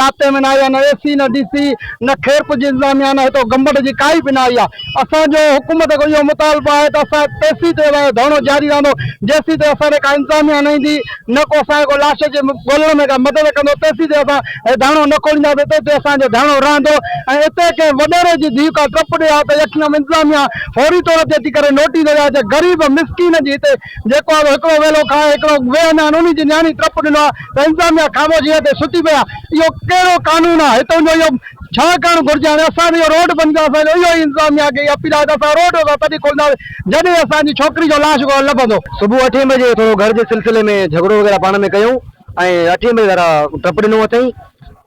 رابطي ۾ نه آهي نه اي سي نه ڊي سي نه خيرپور جي انتظاميا نه هتو گمبٽ جي ڪائي به نه آئي آهي اسان جو حڪومت کان اهو مطالبو آهي ته اسان تيسين تائين اسان جو ڌرڻو جاري رهندو جيسين تائين اسان ڏي ڪا انتظاميا نه ايندي نه ڪو اسان کي ڪو لاش جي ڳولڻ ۾ ڪا مدد ڪندو تيسين تائين اسان هي ڌرڻو نه کولينداسين تيسين تائين اسان جو ڌرڻو رهندو ۽ اتي ڪنهن وڏيري جي ڌيء ڪا ٽپ ڏئي ها ته يقينن انتظاميا فوري طور تي اچي ڪري نوٽيس ڏئي ها ته غريب مسڪين جي هتي جيڪو اهو هڪڙو ويلو کائي هڪڙو ويهن ۽ انهي جي نياڻي ٽپ ڏنو آهي ته انتظاميا خاموشيء تي ستي پئي آهي. اهو ڪهڙو قانون آهي؟ هتون جو اهو ڇا ڪرڻ گهرجي؟ هاڻي اسان به اهو روڊ بند ڪيو اسان جو اهو ئي انتظاميا کي اپيل آهي ته اسان روڊ اسان تڏهن کولنداسين جڏهن اسان جي ڇوڪري جو لاش لڀندو. صبح اٺين بجي ٿورو گهر جي سلسلي ۾ جهڳڙو وغيره پاڻ ۾ ڪيون ۽ اٺين بجي ذرا ٽپ ڏنو اٿئين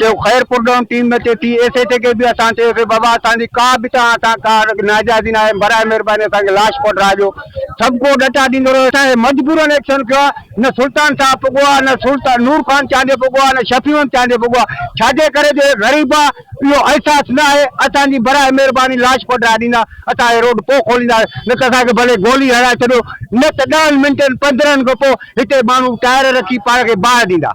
چيو خير پرڏون ٽيم ۾ تي ٿي ايس ايڇ اي کي به اسان چيو سي بابا اسان جي ڪا به توهان سان ڪا ناجائزي ناهي براء مهرباني اسان کي لاش پهٽراجو سڀ ڪو ڏٽا ڏيندو رهيو اسان کي مجبورن ايڪشن ڪيو آهي نه سلطان صاحب پڳو آهي نه سلطان نور خان چانڊيو پڳو آهي نه شفيع احمد چانڊيو پڳو آهي ڇا جي ڪري جو هي غريب آهي اهو احساس ناهي اسان جي براء مهرباني لاش پهٽرائي ڏيندا اسان هي روڊ پو کوليندا نه ته اسان کي ڀلي گولي هڻائي ڇڏيو نه ته ڏهن منٽن پندرهن کان پو هتي ماڻهو ٽائر رکي پاڻ کي باهه ڏيندا.